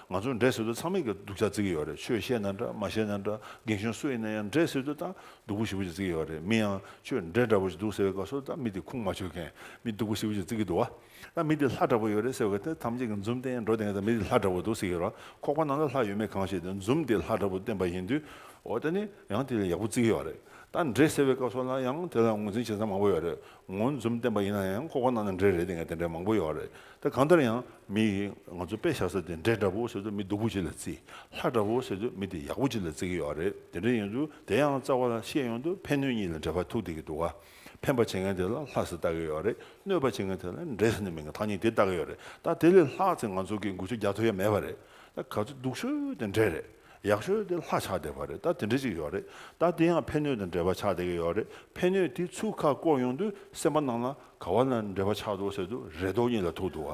ང་ཚོ་འདྲེ་ཟེར་དུས་ཚང་མས་སྡུག་ཅག་བརྩི་གི་ཡོད་རེད་ཆོས་བཤད་ན་འདྲ་མ་བཤད་ན་འདྲ་རྒན་གཞོན་སུ་ཡིན་ན་ཡང་འདྲེ་ཟེར་དུས་ད་སྡུག་པོ་ཞིག་པོ་ཅིག་བརྩི་གི་ཡོད་རེད་མི་ཡང་ཁྱོད་འདྲེ་འདྲ་པོ་ཞིག་འདུག་ཟེར་བའི་སྐབས་སུ་ད་མི་དེ་ཁུངས་མ་ཆོད་མཁན་མི་སྡུག་པོ་ཞིག་པོ་ཅིག་བརྩི་གི་འདུག་ད་མི་དེ་ལྷ་འདྲ་པོ་ཡོད་རེད་ཟེར་བའི་སྐབས་དེ་ཐམས་ཅད་ཀྱི་འཛུམ་སྟེ་འགྲོ་དེ་ད་མི་དེ་ལྷ་འདྲ་པོ་འདུག་ཟེར་གི་རོ་ཁོག་པ་ནང་ན་ལྷ་ཡོད་མེད་གང་ཤེས་དེ་འཛུམ་དེ་ལྷ་འདྲ་པོ་བསྟན་པ་ཡིན་དུས་འོ་ད་ནི་ཡང་དེ་ལས་ཡག་པོ་བརྩི་གི་ཡོད་རེད་ད་འདྲེ་ཟེར་བའི་སྐབས་སོགས་ལ་ཡང་དེ་ལ་ངོས་འཛིན་བྱེད་ས་མང་པོ་ཡོད་རེད་ངོ་འཛུམ་བསྟན་པ་ཡིན་ན་ཡང་ཁོག་པ་ནང་ན་འདྲེ་རེད་དེ་འདྲ་མང་པོ་ཡོད་རེད། ད་གང་ལྟར་ཡང་མི་ཡིས་ང་ཚོ་དཔེ་བཞག་ས་དེ་འདྲས་འདྲ་པོ་ཟེར་དུས་མི་སྡུག་པོ་ཅིག་ལ་བརྩི། ལྷ་འདྲ་པོ་ཟེར་དུས་མི་དེ་ཡག་པོ་ཅིག་ལ་བརྩི་གི་ཡོད་རེད་དེ་འདྲས་ཡིན་དུས་དེ་ཡང་རྩ་བ་ལ་བཤད་ཡོང་དུས་ཕན་གནོད་གཉིས་ལ་འདྲེས་པ་ཐུག་བསྡད་ཀྱི་འདུག་ག་ཕན་པ་བྱེད་མཁན་དེ་ལ་ལྷ་ཟེར་བཏགས་ཀྱི་ཡོད་རེད་གནོད་པ་བྱེད་མཁན་དེ་ལ་འདྲེ་ཟེར་ནས་མིང་ཐག་ཉེ་དེ་བཏགས་ཀྱི་ཡོད་རེད་ད་དེ་ལས་ལྷག་ཚེ་ང་ཚོ་གི་འགུལ་ཚོད་རྒྱག་ཐུབ་ཡ་མེད་པ་རེད་ད་ག་ཚོད་སྡུག་ཤོས་དེ་འདྲས་རེད་ཡག་ཤོས་དེ་ལྷ་ཆགས་བསྡད་པ་རེད་ད་དེ་འདྲས་ཅིག་ཡོད་རེད་ད་དེ་ཡང་ཕན་གནོད་དང་འདྲེས་པ་ཆགས་བསྡད་ཀྱི་ཡོད་རེད་ཕན་གནོད་དེ་ཚུགས་ཁ་བསྐོར་ཡོང་དུས་སེམས་པ་ནང་ལ། ག་བ་ན་འབྲེལ་པ་ཆགས་འདུག་ཟེར་དུས་རེ་དོགས་གཉིས་ལ་ཐུག་འདུག་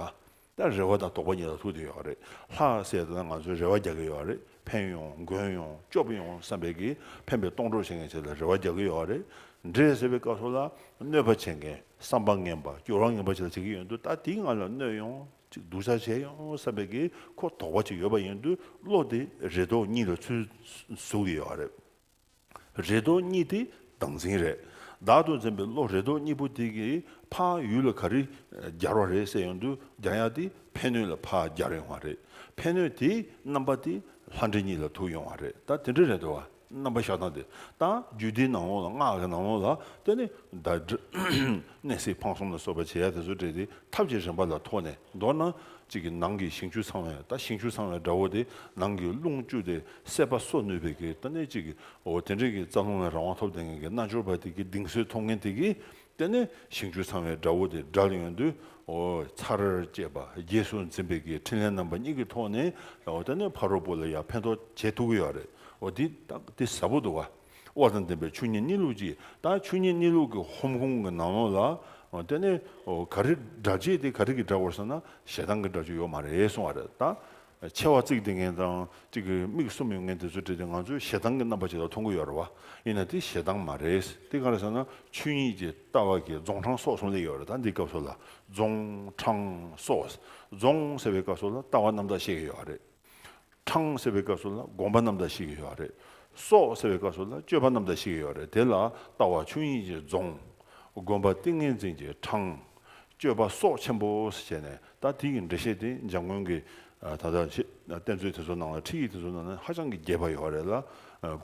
ད་རེ་བ་དང་དོགས་པ་གཉིས་ལ་ཐུག་བསྡད་ཡོད་རེད་ལྷ་སྲས་དེ་དག་ང་ཚོའི་རེ་བ་རྒྱག་གི་ཡོད་རེད་ཕན་ཡོང་མགོན་ཡོང་སྐྱོབ་ཡོང་བསམ་པའི་གིས་ཕན་པའི་སྟོང་གྲོགས་བྱེད་མཁན་ཞིག་ལ་རེ་བ་རྒྱག་གི་ཡོད་རེད་འདྲེ་ཟེར་བའི་སྐབས་སོགས་ལ་གནོད་པ་བྱེད་མཁན་བསམ་པ་ངན་པ་སྐྱོ་རང་ངན་པ་ཞིག་ལ་བྱེད་གི་ཡོད་འདུག་ད་དེ་ང་ལ་གནོད་ཡོང་ཅིག་སྡུག་ཆགས་བྱས་ཡོང་བསམ་པའི་གིས་ཁོ་དོགས་པ་ཅིག་ཡོད་པ་ཡིན་དུས་བློ་དེ་རེ་དོགས་གཉིས་ལ་ཚུད་ཟུག་གི་ཡོད་རེད། རེ་དོགས་གཉིས་ཏེ་བདག་འཛིན་རེད། བདག་ཏུ་འཛིན་པའི་བློ་རེ་དོགས་གཉིས་པོ་དེ་གིས་ཕ་ཡུལ་ལ་ག་རེ་སྦྱར་བ་རེད་བསལ་ཡོང་དུས་རྒྱ་ཡག་དེ་ཕན་གནོད་ལ་ཕ་སྦྱར་ཡོང་བ་རེད། ཕན་གནོད་དེའི་རྣམ་པ་དེ་ལྷ་འདྲེ་གཉིས་ལ་ཐུག་ཡོང་བ་རེད་ད་དེ་འདྲ་རེད་འདོད་བ་རྣམ་པ་ཤ་སྟག་དེ་ད་རྒྱུད་སྡེའི་ནང་ལོགས་ལ་སྔགས་ཀྱི་ནང་ལོགས་ལ་བལྟས་ནས་ད། ནས་སྲིད་འཕང་གསུམ་ལ་སོགས་པའི་བྱེད་ཡག་དེ་ཚོ་སྤྲད་དེ་ཐབས་ཀྱི་རིམ་པ་ལ་ཐོགས་ནས་མདོར་ན། གཅིག་གི་ནང་གི་ཞིང་བཅུ་ཚང་བས་ད་ཞིང་བཅུ་ཚང་བའི་དགྲ་བོ་དེ་ནང་གི་རླུང་བཅུ་སྟེ་སད་པ་གསོ་ནུས་པའི་གེགས་ལྟ་ནས་གཅིག་གི་འོ་དེ་འདྲེན་གྱི་རྩ་རླུང་བའི་རང་དབང་ཐོབ་དེ་ངན་གྱི་རྣལ་འབྱོར་པ་དེ་གི་གདིང་སོས་ཐོབ་ངན་དེ་གི་ལྟེ་ནས་ཞིང་བཅུ་ཚང་བའི་དགྲ་བོ་དེ་དགྲ་ཡོན་དུ་འོ་ཚར་བཅད་པ་རྗེས་སུ་འཛིན་པའི་གེགས་འཕྲིན་ལས་རྣམ་པ་གཉིས་ཀྱི་ཐོག་ནས་ལ་འོ་དེ་ནས་ཕ་རོལ་པོ་ལ་ཡང་ཕན་ཐོགས་བྱེད་ཐུག་གི་ཡོད་རེད་འོ་འདི་ལྟ་འདི་ཟབ་པོ་འདུག་ག། དབལ་དང་ལྡན་པའི་ཆུ་གཉིས་གཉིས་ལུགས་ཀྱིས་དང་ཆུ་གཉིས་གཉིས་ལུགས་ཀྱི་ཧོམ་ཁུང་གི་ནང་ལོགས་ལ། དེ་ནི་ག་རེ་འདྲ་བྱེད་དེ་ག་རེ་གི་འདྲ་བར་བསམ་ན་ཞེ་སྡང་གི་འདྲ་བྱེད་ཡོད་མ་རེད་གསུང་བ་རེད་ད། མཆེ་བ་གཙིགས་དེ་ངན་དང་གཅིག་གི་མིག་གསུམ་ཡོད་ངན་དེ་ཚོ་བྲིས་ཏེ་ང་ཚོས་ཞེ་སྡང་གི་རྣམ་པ་ཅིག་ལ་མཐོང་གི་ཡོད་རེད་བ། ཡིན་ན་དེ་ཞེ་སྡང་མ་རེད་དེ་ག་རེ་བསམ་ན་ཆོས་ཉིད་ཀྱི་ལྟ་བ་གིས་རྫོང་འཕྲང་སྲོག་གསུམ་ལས་ཡོད་རེད་ད་འདིའི་སྐབས་སུ་ལ་རྫོང་འཕྲང་སྲོག་རྫོང་ཟེར་བའི་སྐབས་སུ་ལ་ལྟ་བ་རྣམ་དག་བཤད་ཀྱི་ཡོད་རེད། དྲང་ཟེར་བའི་སྐབས་སུ་ལ་དགོངས་པ་རྣམས་དང་ཞིག་ཡོད་རེད། སོགས་ཟེར་བའི་སྐབས་སུ་ལ་སྤྱོད་པ་རྣམས་དང་ཞིག་ཡོད་རེད་དེ་ལ་ལྟ་བ་ཆོས་དབྱིངས་ཀྱི་རྫོང། དགོན་པ་ཏིང་ངེ་འཛིན་གྱི་དྲང། སྤྱོད་པ་སོགས་ཆེན་པོ་ཞེས་བྱས་ནས་ད་དེ་ཡི་འགྲེལ་བཤད་དེ་འཇམ་མགོན་གྱི་ད་ལྟ་བསྟན་ཚུལ་དེ་ཚོ་ནང་ལ་ཁྲིད་ཡིག་དེ་ཚོ་ནང་ལ་ཧ་ཅང་གི་རྒྱས་པ་ཡོད་རེད་ལ་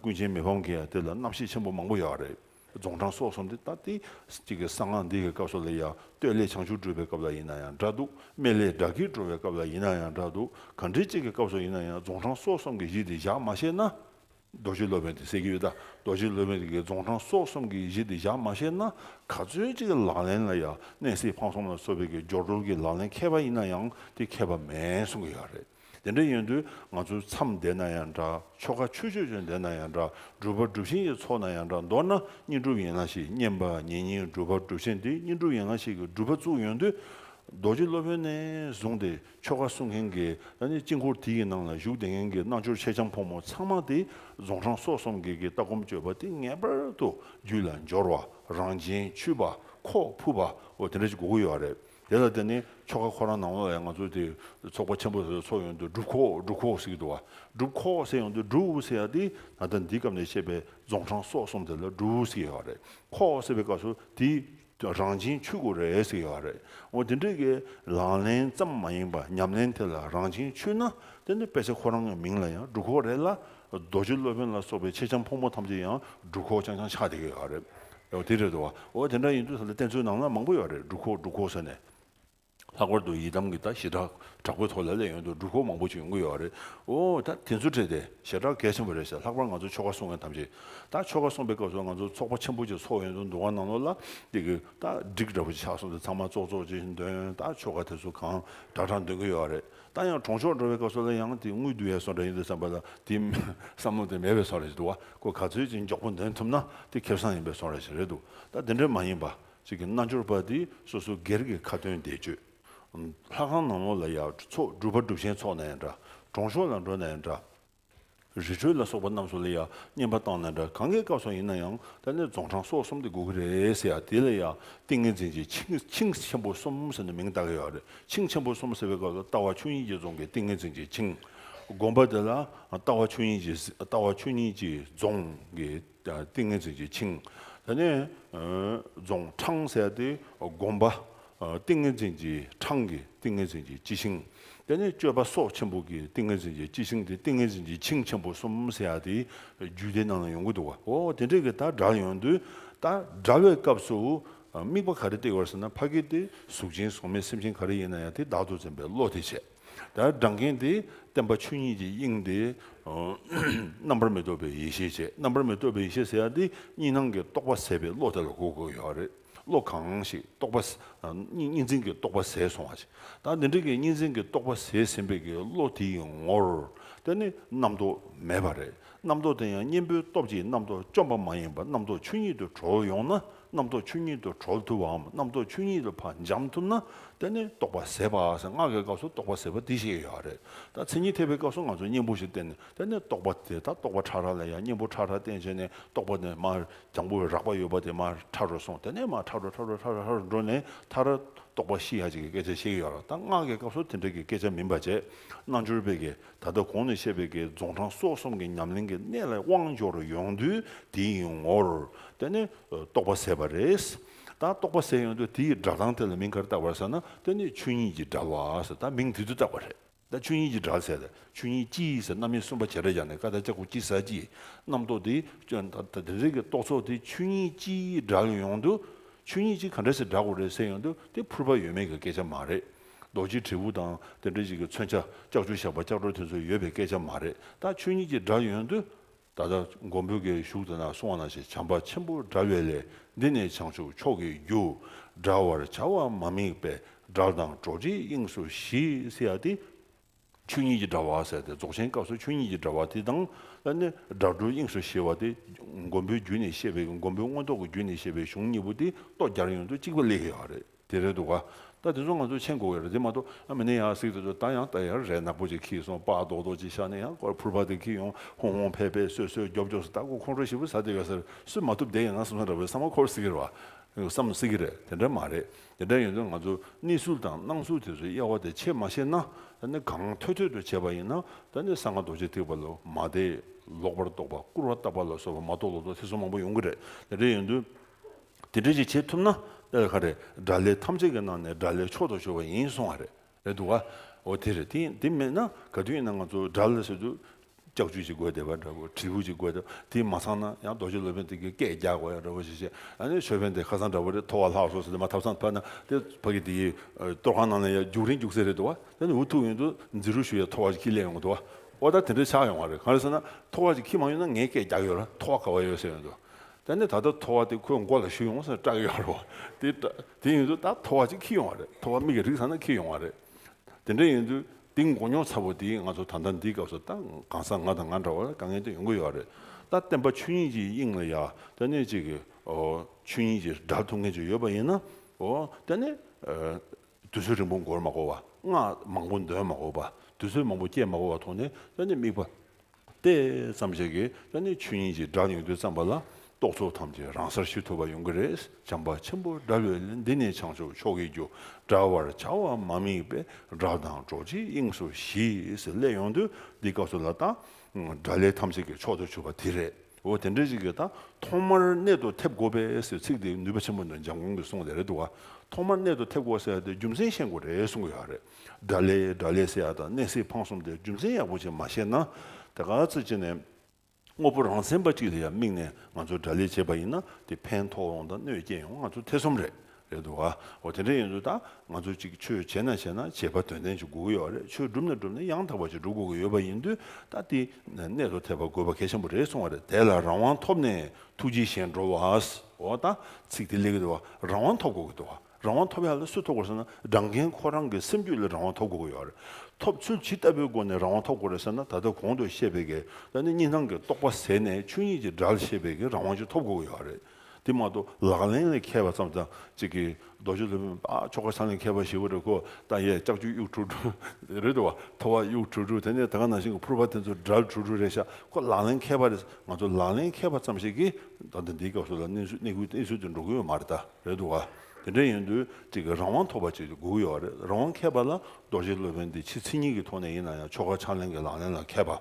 ཀུན་མཁྱེན་མི་ཕམ་གྱི་ཡང་དེ་ལ་རྣམ་བཤད་ཆེན་པོ་མང་པོ་ཡོད་རེད། རྫོང་འཕྲང་སོགས་སོ་འདི་ལྟ་སྟེ། གཅིག་གིས་གསང་སྔགས་འདི་ཡི་སྐབས་སུ་ལ་ཡང་སྟོད་ལས་བྱང་ཆུབ་སྒྲུབ་པའི་སྐབས་ལ་ཡིན་ན་ཡང་འདྲ་འདུག་སྨད་ལས་དགྲ་བགེགས་འགྲོ་བའི་སྐབས་ལ་ཡིན་ན་ཡང་འདྲ་འདུག་གང་དྲིལ་གཅིག་གི་སྐབས་སུ་ཡིན་ན་ཡང་རྫོང་འཕྲང་སོགས་གསུམ་གྱི་གཞི་འདི་བཞག་མ་ཤེས་ན། རྡོ་རྗེ་སློབ་དཔོན་དེ་སེལ་གྱི་ཡོད་ད་རྡོ་རྗེ་སློབ་དཔོན་དེ་གིས་རྫོང་འཕྲང་སོགས་གསུམ་གྱི་གཞི་འདི་བཞག་མ་ཤེས་ན་ག་ཚོད་ཅིག་གི་ལག་ལེན་ལ་ཡང་གནས་གཟིགས་འཕང་གསུམ་ལ་སོགས་པའི་གི་སྦྱོར་སྒྲོལ་གྱི་ལག་ལེན་མཁས་པ་ཡིན་ན་ཡང་དེ་མཁས་པ་མེད་གསུང་གི་ཡོད་རེད། དེ་འདྲ་ཡིན་དུས་ང་ཚོའི་མཚམས་བདེ་ན་ཡང་འདྲ་ཆོ་ག་ཆོས་ཆོས་ཅན་བདེ་ན་ཡང་འདྲ་སྒྲུབ་པ་སྒྲུབ་ཆེན་གྱི་ཚོགས་ན་ཡང་འདྲ་མདོར་ན་བསྙེན་སྒྲུབ་ཡིན་ན་ཞིག་བསྙེན་པ་ཉིན་གཉིས་སྒྲུབ་པ་སྒྲུབ་ཆེན་དེ་བསྙེན་སྒྲུབ་ཡིན་ན་ཞིག་གི་སྒྲུབ་པ་བཙུགས་ཡོང་དུས་རྡོ་རྗེ་སློབ་དཔོན་ནས་བཟུང་སྟེ་ཆོ་ག་གསུང་མཁན་གྱི་དཀྱིལ་འཁོར་དེ་ཡི་ནང་ལ་བཞུགས་བདེ་མཁན་གྱི་རྣལ་འབྱོར་ཆེ་ཆང་ཕོ་མོ་ཚང་མ་དེ་རྫོང་ཧྲང་སོགས་གསུམ་གྱི་གི་ལྟ་སྒོམ་སྤྱོད་པ་དེ་ངེས་པར་དུ་རྒྱུད་ལ་འབྱོར་བ་རང་བྱན་ཆུད་པ་ཁོག་ཕུབ་པ་འོ་དེ་འདྲ་ཅིག་དགོས་ཀྱི་ཡོད་རེད། དེ་ལ་བརྟེན་ནས་ཆོ་ག་ཁོ་རང་ནང་བས་ང་ཚོ་དེ་ཚོགས་པ་ཆེན་པོ་དེ་ཚོགས་ཡོང་དུས་སྒྲུབ་ཁོག་སྒྲུབ་ཁོག་ཟེར་གྱི་འདུག་བ་སྒྲུབ་ཁོག་ཟེར་ཡོང་དུས་སྒྲུབ་ཟེར་ཡ་དེ་ད་ལྟ་འདིའི་སྐབས་ནས་བཤད་པའི་རྫོང་འཕྲང་སོགས་གསུམ་དེ་ལ་སྒྲུབ་ཟེར་ཡ་རེད་ཁོག་ཟེར་བའི་སྐབས་སུ་དེའི་རང་བཞིན་ཆོས་སྐུ་རེད་ཟེར་ཡ་རེད་འོ་དེ་འདྲའི་གི་ལག་ལེན་ཙམ་མ་ཡིན་པ་ཉམས་ལེན་དེ་ལ་རང་བཞིན་ཆོས་ན་དེ་ནི་དཔེ་ཆ་ཁོ་རང་གི་མིང་ལ་ཡང་སྒྲུབ་ཁོག་རེད་ལ་རྡོ་རྗེ་སློབ་དཔོན་ལ་སོགས་པའི་མཆེད་ལྕམ་ཕོ་མོ་ཐམས་ཅད་ཡང་སྒྲུབ་ཁོག་ཆང་ཆང་ཆགས་དེ་ག་རེད། ཨོ་དེ་རེད་དོ། འོ་དེ་འདྲ་ཡིན་དུས་ས་ལ་བསྟན་ཚུལ་ནང་ན་མང་པོ་ཡོད་རེད་སྒྲུབ་ཁོག་སྒྲུབ་ཁོག་ཟེར་ནས། ལྷག་པར་དུ་ཡི་དམ་གྱི་ད་ཞེ་དྲག་དྲག་པོའི་ཐོག་ལ་ལས་ཡོན་དུ་སྒྲུབ་ཁོག་མང་པོ་ཞིག་ཡོང་གི་ཡོད་རེད། འོ་ད་དེ་ཚོ་འཕྲད་དེ་ཞེ་དྲག་གལ་ཆེན་པོ་རེད་ཟེར་ལྷག་པར་ང་ཚོ་ཆོ་ག་སྲུང་མཁན་ཐམས་ཅད་ད་ཆོ་ག་སྲུང་པའི་སྐབས་སུ་ང་ཚོ་ཚོགས་པ་ཆེན་པོ་ཅིག་ཚོགས་ཡོན་དུ་འདུག་ག་ནང་ལོགས་ལ་དེ་གི་ད་སྒྲིག་འདྲ་པོ་ཅིག་ཆགས་སོང་དེ་ཚང་མ་ཙོག་ཙོག་ཅིག་འདོན་ད་ཆོ་ག་དེ་ཚོ་གང་འདྲ་འདྲ་འདོན་གི་ཡོད་རེད། ད་ཡང་གྲོང་ཆོག་འགྲོ་བའི་སྐབས་སུ་ལ་ཡང་དེ་དངུལ་བསྡུ་བའི་སོགས་འདྲ་ཡིན་དུ་བསམ་པ་ལ་དེ་བསམ་བློ་དེ་མེད་པའི་སོགས་རེད་ཅེས་འདུག་བ་ཀོ་ག་ཚོད་ཅིག་མགྱོགས་པོ་འདོན་ཐུབ་ན་དེ་ཁེབས་སང་ཡིན་པའི་སོགས་རེད་ཅེས་རེད་འདུག་ད་དེ་འདྲ་མ་ཡིན་པ་ཅིག་གི་རྣལ་འབྱོར་པ་དེ་སོ་སོ་སྒེར་གྱི་ཁ་ཏོན་བདེ་སྤྱོད། ལྷ་ཁང་ནང་ལོགས་ལ་ཡང་ཚོགས་སྒྲུབ་པ་སྒྲུབ་ཆེན་ཚོགས་ན་ཡང་འདྲ་གྲོང་ཆོག་ལ་འགྲོ་ན་ཡང་འདྲ། རི་ཁྲོད་ལ་སོགས་པ་རྣམས་སུ་ལ་ཡང་བསྙེན་པ་བཏང་ན་འདྲ་གང་གཱའི་སྐབས་སོགས་ཡིན་ན་ཡང་ད་ནི་རྫོང་འཕྲང་སོགས་གསུམ་དུ་དགོས་ཀྱི་རེད་ཟེར་ཡ་དེ་ལ་ཡང་ཏིང་ངེ་འཛིན་གྱི་ཆིངས་ཆེན་པོ་གསུམ་ཟེར་ནས་མིང་བཏགས་ཀྱི་ཡོད་རེད་ཆིངས་ཆེན་པོ་གསུམ་ཟེར་བའི་སྐབས་ལ་ལྟ་བ་ཆོས་ཉིད་ཀྱི་རྫོང་གི་ཏིང་ངེ་འཛིན་གྱི་ཆིངས་བསྒོམ་པ་དེ་ལ་ལྟ་བ་ཆོས་ཉིད་ཀྱི་ལྟ་བ་ཆོས་ཉིད་ཀྱི་རྫོང་གི། ཏིང་ངེ་འཛིན་གྱིས་འཆིང། ད་ནི་རྫོང་འཕྲང་བསལ་ཏེ་བསྒོམ་པ། ཏིང་ངེ་འཛིན་གྱིས་འཕྲང་གི་ཏིང་ངེ་འཛིན་གྱིས་ཅི་ཞིང། ད་ནི་སྤྱོད་པ་སྲོག་ཆེན་པོ་གི་ཏིང་ངེ་འཛིན་གྱིས་ཅི་ཞིང་དེ་ཏིང་ངེ་འཛིན་གྱིས་འཆིང་ཆེན་པོ་གསུམ་བསལ་ཡ་དེའི་རྒྱུད་སྡེ་རྣམས་ལ་ཡོང་གི་འདུག་གོ། འོ་དེ་འདྲ་གི་དག་སྒྲ་ཡོང་དུས་དག་སྒྲ་བའི་སྐབས་སུ་དམིགས་པ་ག་རེ་སྟེར་བར་ཟེར་ན་ཕ་གི་སྟེ་གཟུགས་ཅན་གཟུགས་མེད་སེམས་ཅན་ག་རེ་ཡིན་ན་ཡང་དེ་བདག་ཏུ་འཛིན་པའི་བློ་དེ་བྱེད། དེ་ལྟར་བགྲང་གིན་དེ་བསྟན་པ་ཆོས་ཉིད་ཀྱི་དབྱིངས་ཏེ། རྣམ་པར་མི་རྟོག་པའི་ཡེ་ཤེས་བྱས་རྣམ་པར་མི་རྟོག་པའི་ཡེ་ཤེས་ཟེར་ཡ་དེ་གཉིས་སྣང་གི་རྟོག་པ་ཟད་པའི་བློ་དེ་ལ་གོ་དགོས་ཡོད་རེད་བློ་གང་ཞིག་རྟོག་པ། གཉིས་འཛིན་གྱི་རྟོག་པ་ཟད་སོང་བ་ཞིག་དང་དེ་འདྲ་གི་གཉིས་འཛིན་གྱི་རྟོག་པ་ཟད་ཟིན་པའི་གི་བློ་དེ་ཡི་ངོར་དེ་ནི་རྣམ་རྟོག་མེད་པ་རེད་རྣམ་རྟོག་དེ་ཡང་གཉེན་པོའི་སྟོབས་ཀྱིས་རྣམ་རྟོག་བཅོམ་པ་མ་ཡིན་པར་རྣམ་རྟོག་ཆོས་ཉིད་དུ་གྲོལ་ཡོང་ན་རྣམ་རྟོག་ཆོས་ཉིད་དུ་གྲོལ་ཐུབ་བའམ་རྣམ་རྟོག་ཆོས་ཉིད་དུ་བར་འབྱམས་ཐུབ་ན་དེ་ནི་རྟོག་པ་ཟད་པ་ཟེར་སྔགས་ཀྱི་སྐབས་སུ་རྟོག་པ་ཟད་པ་འདི་ཞེས་ཡོད་རེད་ད་མཚན་ཉིད་ཐེག་པའི་སྐབས་སུ་ང་ཚོས་གཉེན་པོ་ཞིག་བསྟན་ནས་དེ་ནི་རྟོག་པ་དེ་ད་རྟོག་པ་ཕྲ་རགས་ལ་ཡང་གཉེན་པོ་ཕྲ་རགས་བསྟན་བྱས་ནས་རྟོག་པ་དེ་མར་རྒྱང་པོ་རགས་པ་ཡོད་པ་དེ་མར་ཕྲ་རུ་སོང་དེ་ནས་མར་ཕྲ་རུ་ཕྲ་རུ་ཕྲ་རུ་ཕྲ་རུ་འགྲོ་ནས་མཐར་རྟོག་པ་ཤི་ཡ་ཅིག་གི་སྐད་ཆ་བཤད་ཀྱི་ཡོད་རེད་ད་སྔགས་ཀྱི་སྐབས་སུ་དེ་འདྲ་གི་སྐད་ཆ་མིན་པ་རྗེས་གནང་སྦྱོར་བས་ཀྱི་ད་ལྟ་གོང་ནས་བཤད་པའི་དགེ་རྫོང་དྲང་སྲོང་གསུམ་གྱི་ཉམས་ལེན་གྱི་གནད་ལ་དབང་འབྱོར་ཡོང་དུས་དེའི་ངོར་བལྟས་ནས་རྟོགས་པ་ཟད་པ་རེད། ད་རྟོགས་པ་ཟད་ཡོང་དུས་དེའི་སྒྲ་གདངས་དེ་ལ་མིང་གར་བཏགས་པར་ཟེར་ན་དེ་ནི་ཆོས་ཉིད་ཀྱི་སྒྲ་བ་ཟེར་ད་མིང་དེ་དུས་བཏགས་པ་རེད། ད་ཆོས་ཉིད་ཀྱི་སྒྲ་ཟེར་ད་ཆོས་ཉིད་སྤྱི་ཡིན་ཟེར་རྣམ་དབྱེ་གསུམ་པ་བྱེ་བྲག་སྦྱར་ནས་ཀ་དག་ལྕགས་ཀྱུ་སྤྱི་ཟ་སྤྱི་རྣམ་རྟོག་དེ་ད་དེ་འདྲའི་གི་རྟོགས་ཚོགས་དེ་ཆོས་ཉིད་སྤྱིའི་སྒྲ་ལ་ཡོང་དུས་ཆོས་ཉིད་སྤྱི་ག་འདྲ་ཟེར་སྒྲ་གོ་རེ་ཟེར་ཡོང་དུས་དེ་ཕུར་པ་ཡོད་མེད་ཀྱི་སྐད་ཆ་མ་རེད། རྡོ་རྗེ་དྲིལ་བུ་དང་དེ་འདྲ་ཞིག་གི་མཚོན་ཆ་ལྕགས་ཆུ་ཞགས་པ་ལྕགས་སྒྲོག་དེ་ཚོ་ཡོད་པའི་སྐད་ཆ་མ་རེད་ད་ཆོས་ཉིད་ཀྱི་སྒྲ་ཡོན་དུ། ད་ལྟ་མགོན་པོའི་སྐད་ཞུགས་དེ་ན་སོང་བ་ན་ཞེས་བྱམས་པ་ཆེན་པོ་སྒྲ་བས་ལས་འདི་ནི་བྱང་ཆུབ་མཆོག་གི་རྒྱུ། སྒྲ་བར་བྱ་བ་མ་དམིགས་པའི་སྒྲ་དང་གྲོགས་བྱེད་དབྱིངས་སུ་ཞི་བསིལ་བ་སྟེ། ཆོས་ཉིད་ཀྱི་དྲྭ་བ་ཟེར་ཏེ་རྫོགས་ཆེན་སྐབས་སུ་ཆོས་ཉིད་ཀྱི་དྲྭ་བ་དེ་དང་ལྷན་ནི་སྒྲ་སྒྲོལ་དབྱིངས་སུ་ཞེས་བ་དེ། མགོན་པོའི་རྒྱུད་ནས་བཤད་པའི་མགོན་པོའི་མངོན་རྟོགས་ཀྱི་རྒྱུད་ནས་བཤད་པའི་གཞུང་གཉིས་པོ་དེ་ཏོག་རྒྱར་ཡོང་དུས་གཅིག་པ་ལེ་ཧེ་ཡག་རེད་དེ་རེད་འདུག་ག་ད་དེ་ཚོ་ང་ཚོ་མཆན་འགོ་བའི་རེད་དེ་མ་གཏོགས་ཨ་མི་ནི་ཡག་གཟིགས་དེ་ཚོ་ད་ཡང་ད་ཡར་རས་ནག་པོ་ཅིག་ཁྱིས་སོང་དཔའ་རྡོག་རྡོག་ཅིག་བཞག་ནས་ཡང་སྐོར་ཕུར་པ་དེ་ཁྱིས་ཡོང་ཧོང་ཧོང་ཕེ་ཕེ་སོད་སོད་རྒྱོབ་རྒྱོབ་སུ་ད་གོ་ཁོང་ཁྲོ་ཞིབ་པོ་ཟ་དེ་ག་ཟེར་སུས་མ་ཐུབ་དེ་ཡང་ང་སོང་སོང་འདྲ་བའི་བསམ་བ་འཁོར་སྲིད་ཀྱི་རེད་བ། བསམ་སྲིད་ཀྱི་རེད་དེ་འདྲ་མ་རེད། དེ་འདྲ་ཡིན་དུས་ང་ཚོ་གནས་ཚུལ་དང་སྣང་ཚུལ་དེ་ཚོའི་དབྱེ་བ་དེ་ཕྱེད་མ་ཤེས་ན་ད་ནི་གང་ཐོད་ཐོད་དུ་བྱས་པ་ཡིན་ན་ད་ནི་ས་ང་རྡོ་རྗེ་ཐེག་པ་ལོ་མ་དེ་ལོག་པར་རྟོག་པ་སྐུར་བ་བཏབ་པ་ལ་སོགས་པ་མ་གཏོགས་ལོག་རྟོག་ཐེ་ཚོམ་མང་པོ་ཡོང་གི་རེད་དེ་འདྲ་ཡིན་དུས་དེ་འདྲ་ཞིག་བྱེད་ཐུབ་ན་དཔེར་ཁ་རེད་དགྲ་ལས་ཐམས་ཅད་ཀྱི་ནང་ནས་དགྲ་ལས་མཆོག་ཏུ་གྱུར་བ་ཡིན་སོང་བ་རེད། ལས་འདུག་ག། འོ་དེ་རེད། དེ་དེ་མེད་ན་ག་དུས་ཡིན་ན་ང་ཚོ་དགྲ་ལ་ཟེར་དུས་སྐྱག་ཆུ་ཞིག་དགོས་བསྡད་པ་འདྲ་བོ་དྲིལ་བུ་ཅིག་དགོས་བསྡད་པ་དེ་མ་ཚང་ན་ཡང་རྡོ་རྗེ་སློབ་དཔོན་དེ་གའི་སྐད་རྒྱག་དགོས་ཡག་འདྲ་བོ་ཞིག་བྱེད་ཨ་ནི་ཆོས་དཔོན་དེ་ཁ་སང་འདྲ་བོ་རེད་ཐོ་བ་ལྷག་སོ་ཟེར་དེ་མ་ཐབས་སང་ཕར་ན་དེ་ཕ་གི་དེ་གའི་གཏོར་ཁང་ནང་ལ་ཡང་རྒྱུག་རིང་རྒྱུག་ཚེ་རེད་འདུག་ག་དེ་ནི་འུ་ཐུག་ཡོང་དུས་འཛི་རུ་ཞུ་ཡ་ཐོ་བ་ཅིག་ཁྱི་གླས་ཡོང་གི་འདུག་ག་འོ་ད་དེ་འདྲ་ཆགས་ཡོང་བ་རེད་གང་རེད་ཟེར་ན་ཐོ་བ་ཅིག་ཁྱི་མང་ཡོད་ན་ངའི་སྐད་རྒྱག་ཡོད་ར་ཐོ་བ་ག་བ་ཡོད་ཟེར་ཡོང་དུས་ད་ནི་ད་ལྟ་ཐོ་བ་དེ་ཁོའི་མགོ་ལ་ཞུ་ཡོང་ཟེར་སྐྲག་ཡོད་རེད་བ། དེ་དེ་ཡིན་དུས་ད་ཐོ་བ་ཅིག་འཁྱིལ་ཡོང་བ་རེད་ཐོ་བ་མིག་གི་རིགས་ཚང་ན་འཁྱིལ་ཡོང་བ་རེད། དེ་འདྲ་ཡིན་དུས་དེ་མགོ་རྙོག་ཚ་བོ་དེས་ང་ཚོ་ད་ལྟ་འདིའི་སྐབས་སུ་ད་གང་ཟག་ང་དང་ང་འདྲ་བ་ལ་དཀའ་ངལ་དེ་ཡོང་གི་ཡོད་རེད། ད་བསྟན་པ་ཆོས་ཉིད་ཀྱི་དབྱིངས་ལ་ཡ་ད་ནི་གཅིག་གིས་ཆོས་ཉིད་ཀྱི་སྒྲ་ཐོ་མཁན་ཅིག་ཡོད་པ་ཡིན་ན། ད་ནི། དུས་ཚོད་རིང་པོ་འགོར་མ་གོ་བ། སྔགས་མང་པོ་འདོན་མ་གོ་བ། དུས་ཚོད་མང་པོ་སྐྱེལ་མ་གོ་བ་མཐོང་ནས་ཅོ་ནེ་དམིགས་པ་སྟེ་བརྩམས་བྱས་ཀྱི་ཅོ་ནེའི་ཆོས་ཉིད་ཀྱི་སྒྲ་ཉུང་དུ་བརྩམས་པ་ལ་རྟོག་ཚོགས་ཐམས་ཅད་རང་སར་ཞི་ཐུབ་པ་ཡོང་གི་རེད་བྱམས་པ་ཆེན་པོ་སྒྲ་བློས་ལས་འདི་ནི་བྱང་ཆུབ་མཆོག་གི་རྒྱུ་འདྲ་བར་བྱ་བ་མ་དམིགས་པའི་སྒྲ་དང་རྡོ་རྗེའི་དབྱིངས་སུ་ཞིས་སླད་ཡོང་དུས་འདི་སྐབས་སུ་ལ་དང་སྒྲ་ལས་ཐམས་ཅད་ཀྱི་མཆོག་ཏུ་གྱུར་པ་དེ་རེད། འོ་དེ་འདྲའི་རིགས་ཀྱི་དང་ཐོག་མར་གནད་དུ་ཐེབས་དགོས་པས་ཟེར་ཚིག་དེ་ནུས་པ་ཆེན་པོ་འདྲ་འཇམ་དགོང་གི་གསུངས་ལས་རེད་འདུག་ག་ཐོག་མར་གནད་དུ་ཐེབས་དགོས་ཟེར་ཡ་དེ་རྒྱུ་མཚན་ཤེས་དགོས་རེད་གསུངས་ཡོད་རེད་དགྲ་ལས་དགྲ་ལས་ཟེར་ཡ་དང་གནད་སྲིད་འཕང་གསུམ་དེ་རྒྱུ་མཚན་ཡག་པོ་ཅིག་མ་ཤེས་ན་དེ་ག་ཚོད་ཅིག་ནས་དངོས་པོ་རང་མཚན་པ་ཅིག་ལ་ཡ་དམིགས་ནས་ང་ཚོ་དགྲ་ལས་བྱེད་པ་ཡིན་ན་དེ་ཕན་ཐོགས་ཡོང་དང་གནོད་སྐྱེལ་ཡོང་ང་ཚོ་ཐེ་ཚོམ་རེད་རེད་འདུག་ཨ། འོ་དེ་འདྲ་ཡིན་ཚོད་ད་ང་ཚོ་ཅིག་ཆོས་བྱེད་ན་བྱེད་ན་བྱེད་པ་དོན་ལྡན་ཅིག་དགོས་ཀྱི་ཡོད་རེད་ཆོས་སྒྲུབ་ན་སྒྲུབ་ན་ཡང་དག་པ་ཅིག་སྒྲུབ་དགོས་ཀྱི་ཡོད་པ་ཡིན་དུས་ད་འདི་གནད་དུ་ཐེབས་པ་དགོས་པ་གལ་ཆེན་པོ་རེད་གསུང་བ་རེད་དེ་ལ་རང་དབང་ཐོབ་ནས་ཐུགས་རྗེས་གཞན་འགྲོ་བ་འོ་ད་ཚིག་དེ་ལེགས་ཀྱི་འདུག་རང་དབང་ཐོབ་དགོས་ཀྱི་འདུག་རང་དབང་ཐོབ་ཡག་ལ་སུས་ཐོབ་དགོས་ཟེར་ན་སྦྲང་རྒན་ཁོ་རང་གི་སེམས་རྒྱུད་ལ་རང་དབང་ཐོབ་དགོས་ཀྱི་ཡོད་རེད་ཐོབ་ཚུལ་ཇི་ལྟ་བུའི་སྒོ་ནས་རང་དབང་ཐོབ་དགོས་རེད་ཟེར་ན་ད་ལྟ་གོང་དུ་བཤད་པའི་གལ་ཏེ་གཉིས་སྣང་གི་རྟོག་པ་ཟད་ནས་ཆོས་ཉིད་ཀྱི་སྒྲ་ལ་ཤེས་པའི་གི་རང་དབང་ཅིག་ཐོབ་དགོས་ཀྱི་ཡོད་རེད། དེ་མ་གཏོགས་ལག་ལེན་ལས་མཁས་པ་ཙམ་དང་གཅིག་གིས་རྡོ་རྗེ་ལྷུན་པོའི་ཆོ་ག་ཚང་ལས་མཁས་པ་ཞེས་པོ་རེད་གོ་ད་ཡས་ལྕགས་ཀྱུ་དབྱུག་ཕྲུག་དྲུག་རེད་བ་ཐོ་བ་དབྱུག་ཕྲུག་དྲུག་དེ་ནས་ད་ག་ནང་བཞིན་གྱི་ཕུར་པ་དེ་ཚོ་དགྲ་ཕྲུག་དྲུག་རེད་ཤག་ཁོ་ལག་ལེན་མཁས་པ་རེད་ང་ཚོ་ལག་ལེན་མཁས་པ་ཙམ་ཞིག་གིས་ད་ལྟ་འདིའི་སྐབས་སུ་ལ་གནས་ཚུལ་གནས་ཁུལ་གནས་ཚུལ་དེ་འགྲོ་གི་ཡོད་མ་རེད་ད་རེད་བ་དེ་འདྲ་ཡིན་དུས་གཅིག་གིས་རང་དབང་ཐོབ་པ་ཅིག་དགོས་ཀྱི་ཡོད་བ་རེད་རང་དབང་མཁས་པ་ལ་རྡོ་རྗེ་སློབ་དཔོན་འདི་ཕྱི་ཚིག་གཉིས་ཀྱི་ཐོག་ནས་ཡིན་ན་ཡང་ཆོ་ག་ཕྱག་ལེན་གྱི་ལག་ལེན་ལ་མཁས་པ།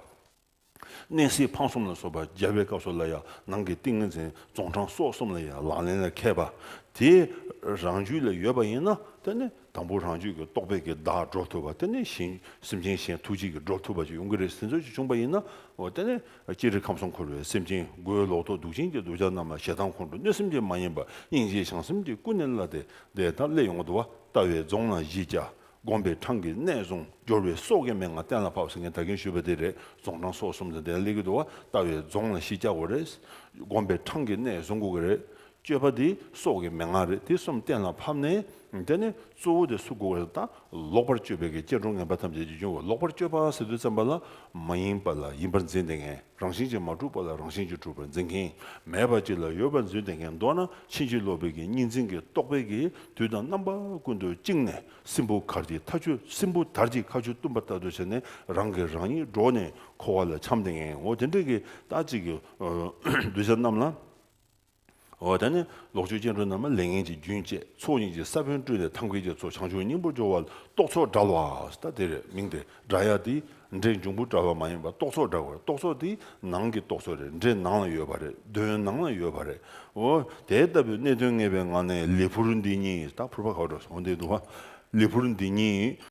གནས་སའི་ཕང་གསུམ་ལ་སོགས་པ་སྦྱར་བའི་སྐབས་སུ་ལ་ཡང་ནང་གི་ཏིང་ངེ་འཛིན་རྫོང་འཕྲང་སོགས་གསུམ་ལ་ཡང་ལག་ལེན་ལ་མཁས་པ་དེ་རང་རྒྱུད་ལ་ཡོད་པ་ཡིན་ན་དེ་ནི་དང་པོ་རང་རྒྱུད་ཀྱི་རྟོག་པས་ཀྱི་བདག་སྒྲོག་ཐུབ་པ་དེ་ནི་གཞན་སེམས་ཅན་གཞན་ཐུགས་རྗེ་ཀྱི་སྒྲོག་ཐུབ་པ་ཅིག་ཡོང་གི་རེད་ཟེར་ཚོད་ཅིག་བྱུང་པ་ཡིན་ན་དེ་ནི་ཅི་རིགས་ཁམས་གསུམ་འཁོར་བའི་སེམས་ཅན་མགོའི་ལོག་རྟོག་གདུག་ཅན་གྱི་གདུལ་བྱ་རྣམས་ལ་ཞེ་སྡང་ཁོང་ཁྲོ་གནོད་སེམས་ཅན་མ་ཡིན་པ་སྙིང་རྗེའི་བྱང་སེམས་དེ་ཀུན་ནས་བརླ་སྟེ་བདེ་ཐང་བརླས་ཡོང་དུ་བ་ལྟ་བའི་རྫོང་ན་གཞི་བཅའ་དགོན་པའི་འཕྲང་གི་གནས་རྫོང་སྦྱོར་བའི་སོག་ཀའི་མན་ངག་གཏན་ལ་ཕབ་ཟེར་མཁན་དག་གིན་ཞུས་པ་དེ་རེད་རྫོང་འཕྲང་སོག་གསུམ་དང་ལྡན་གླེགས་ཀྱི་དུ་བ་བལྟ་བའི་རྫོང་ལ་གཞི་བཅག་པ་རེད། དགོན་པའི་འཕྲང་གི་གནས་བཟོ་འགོ་གི་རེད། སྤྱོད་པ་དེ་སོག་གི་མན་ངག་རེད་དེ་གསུམ་གཏན་ལ་ཕབ་ནས། དེ་ནས་གཙོ་བོ་དེ་སུ་འགོ་གི་རེད་ད་ལོག་པར་སྤྱོད་པའི་གི་སྐྱེ་འགྲོ་ངན་པ་ཐམས་ཅད་ཀྱི་འབྱུང་བ་ལོག་པར་སྤྱོད་པ་ཟེར་དུས་བཙན་པ་ལ་མ་ཡིན་པ་ལ་ཡིན་པར་འཛིན་ཏེ་ངན་རང་བཞིན་གྱིས་མ་གྲུབ་པ་ལ་རང་བཞིན་གྱིས་གྲུབ་པར་འཛིན་གིན་མེད་པ་གཅིག་ལ་ཡོད་པར་འཛུན་ཏེ་ངན་མདོར་ན་ཕྱིན་ཅི་ལོག་པའི་གི་གཉིས་འཛིན་གི་རྟོག་པའི་གི་དུས་དང་རྣམ་པ་ཀུན་ཏུ་བཅིངས་ནས་སྲིན་བུ་གར་གྱི་མཐའ་ཆུ་སྲིན་བུ་དར་གྱི་ཁ་ཆུ་བཏུམ་པ་ལྟར་དུ་བྱས་ནས་རང་གིས་རང་ཉིད་སྒྲོགས་ནས་འཁོར་བ་ལ་འཁྱམས་ཏེ་ངའོ་དེ་འདྲ་གི་རྟགས་གཅིག་གིས་གདུལ་བྱ་རྣམས་ལ། འོ་ད་ནི་ལོག་སྤྱོད་སྐྱེ་འགྲོ་རྣམས་ལ་ལས་ངན་གྱི་རྒྱུན་བཅད་ཚོགས་གཉིས་ཀྱི་ས་བོན་བསྐྲུན་ནས་ཐམས་མཁས་ཀྱི་ཚོགས་བྱང་ཆུབ་སྙིང་པོར་སྦྱོར་བ་རྟོག་ཚོགས་བསྒྲལ་བ་ལྟ་དེར་མིང་སྟེ། སྒྲ་ཡག་འདི་སྒྲའི་འབྱུང་ཁུངས་གྲྭ་བ་མ་ཡིན་པར་རྟོག་ཚོགས་གྲྭ་བ་རེད་རྟོག་ཚོགས་འདི་ནང་གི་རྟོག་ཚོགས་རེད་འདྲེ་ནང་ལ་ཡོད་པ་རེད་གདོན་ནང་ལ་ཡོད་པ་རེད་འོ་དེ་ལྟ་བུའི་གནད་དོན་ངེས་པའི་ངང་ནས་ལི་ཕུར་འདི་གཉིས་ད་ཕུར་པ་ག་བྲོ་སོང་བདེ་འདུག་ལི་ཕུར་འདི་གཉིས།